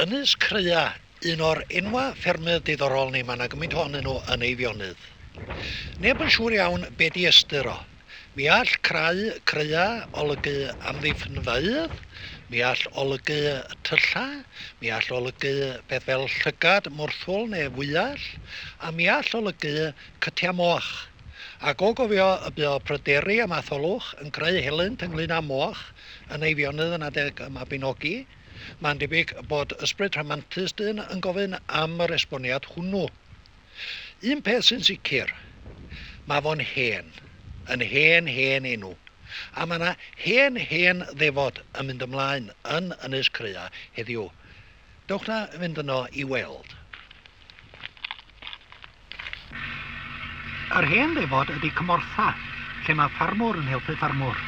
Ynys Crea, un o'r enwa ffermydd diddorol ni, mae 'na gymaint ohonyn nhw yn Eifionydd. Neb yn siŵr iawn be di ystyr o. Mi all crau, creua, olygu amddiffynfeydd, mi all olygu tylla, mi all olygu peth fel llygad, mwrthwl neu fwyell, a mi all olygu cytia moch. a go gofio y bu o pryderu a matholwch yn creu helynt ynglŷn â moch yn Eifionydd yn adeg y Mabinogi, mae'n debyg bod ysbryd rhamantus dyn yn gofyn am yr esboniad hwnnw. Un peth sy'n sicr, mae fo'n hen, yn hen hen enw, a mae 'na hen hen ddefod yn mynd ymlaen yn Ynys Crea heddiw. Dewch 'na fynd yno i weld. Yr hen ddefod ydy cymortha, lle mae ffarmwr yn helpu ffarmwr.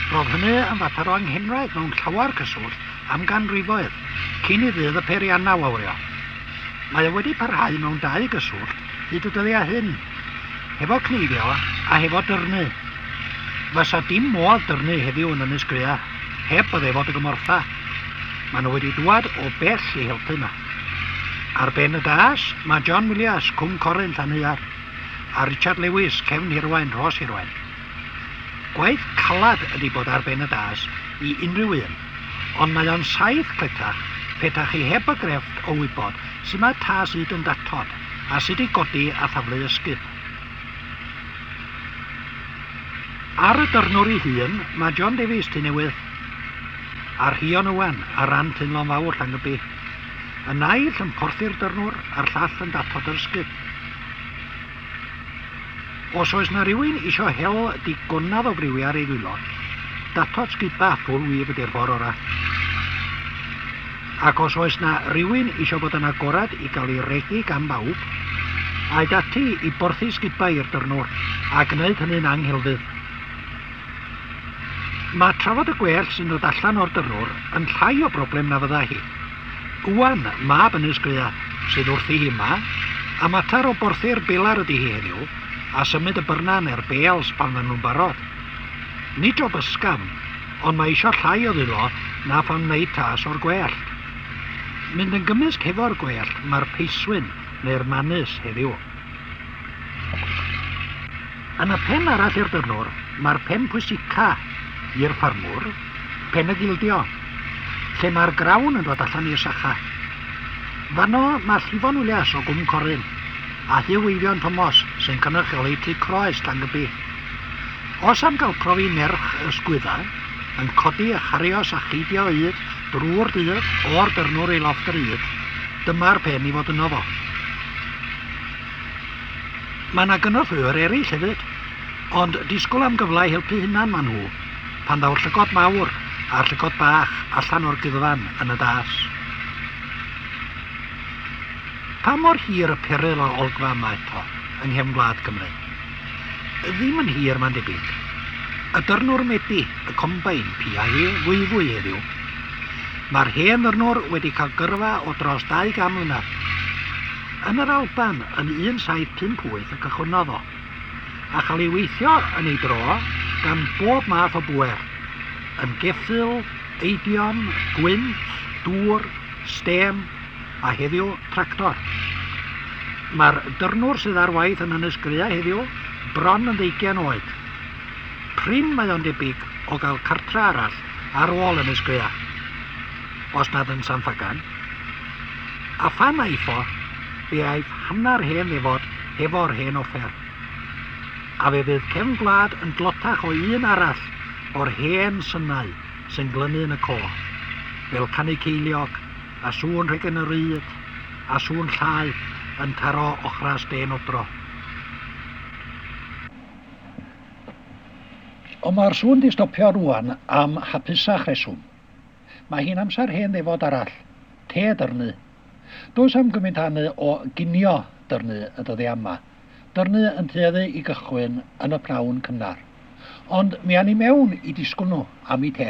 Roedd hynny yn fater o anghenraid mewn llawer cyswllt am ganrifoedd cyn i ddydd y peiriannau wawrio. Mae o wedi parhau mewn dau gyswllt hyd y dyddiau hyn, hefo cneifio a hefo dyrnu. Fysa dim modd dyrnu heddiw yn Ynys Grea heb y ddefod y gymortha. Maen nhw wedi dŵad o bell i helpu 'ma. Ar ben y das, mae John Willias, Cwm Coren, Llanheuarth, a Richard Lewis, Cefn Hirwain, Rhos Hirwain. Gwaith calad ydy bod ar ben y das i unrhyw un, ond mae o'n saith cletach pe ta chi heb y grefft o wybod sut mae tas ŷd yn datod a sut i godi a thaflu ysgub. Ar y dyrnwr ei hun, mae John Davies, Tŷ Newydd, a Rhion Owen ar ran Teimlo'n Fawr Llangybbi. Y naill yn porthi'r dyrnwr a'r llall yn datod yr ysgub. Os oes na rywun isio hel digonad o briwiau ar ei ddwylo, datod sgiba ffwl wib ydy'r ffordd ora. Ac os oes na rywun isio bod yn agored i gael ei regi gan bawb, aed ati i borthi sgibau i'r dyrnwr a gwneud hynny'n anghelfydd. Mae trafod y gwellt sy'n dod allan o'r dyrrwr yn llai o broblem na fydda hi. Gwan, mab Ynys Grea, sydd wrthi hi 'ma, a mater o borthi'r belar ydi hi heddiw, a symud y byrna neu'r bales pan fyddan nhw'n barod. Nid job ysgafn, ond mae eisiau llai o ddwylo na phan wneud tas o'r gwellt. Mynd yn gymysg hefo'r gwellt mae'r peiswyn neu'r manys heddiw. Yn y pen arall i'r dynwr, mae'r pen pwysica i'r ffarmwr, pen y gildio, lle mae'r grawn yn dod allan i'r sacha. Fanno mae Llifon Willias o Gwm Coryn a Huw Eifion Tomos sy'n cynrychioli Tŷ Croes Llangybi. Os am gael profi nerch y sgwydda yn codi a charios a cheidio ŷd drwy'r dydd o'r dyrnwr i lofft yr ŷd, dyma'r pen i fod yno fo. Mae yna gynorthwywyr eraill hefyd, ond disgwyl am gyfle i helpu hunan maen nhw, pan ddaw'r llygod mawr a'r llygod bach allan o'r guddfan yn y das. Pa mor hir y peryl a olgfa yma eto, yng nghefn gwlad Cymru? Ddim yn hir, mae'n debyg. Y dyrnwr mebi, y combain, piau e fwyfwy heddiw. Mae'r hen ddyrnwr wedi cael gyrfa o dros 200 mlynedd. Yn yr Alban yn 1758 y cychwynnodd o, a chael ei weithio yn ei dro gan bob math o bŵer, yn geffyl, eidion, gwynt, dŵr, stêm, a heddiw, tractor. Mae'r dyrnwr sydd ar waith yn Ynys Graeau heddiw bron yn ddeugain oed. prin mae o'n debyg o gael cartre arall ar ôl Ynys Gwear, os nad yn San Ffagan. A phan aetho, fe aeth hanner hen ddefod hefo'r hen offer. A fe fydd cefn gwlad yn dlotach o un arall o'r hen synau sy'n glynu yn y côr, fel canu ceiliog, a sŵn rheg yn yr ŷd, a sŵn llaeth yn taro ochras dên odro. Ond mae'r sŵn 'di stopio rŵan am hapusach reswm. Mae hi'n amser hen ddefod arall, te a dyrnu. Does am gymint a hynny o ginio dyrnu y dyddiau yma. Dyrnu yn tueddu i gychwyn yn y pnawn cynnar. Ond mi awn ni mewn i disgwl nhw am 'u te.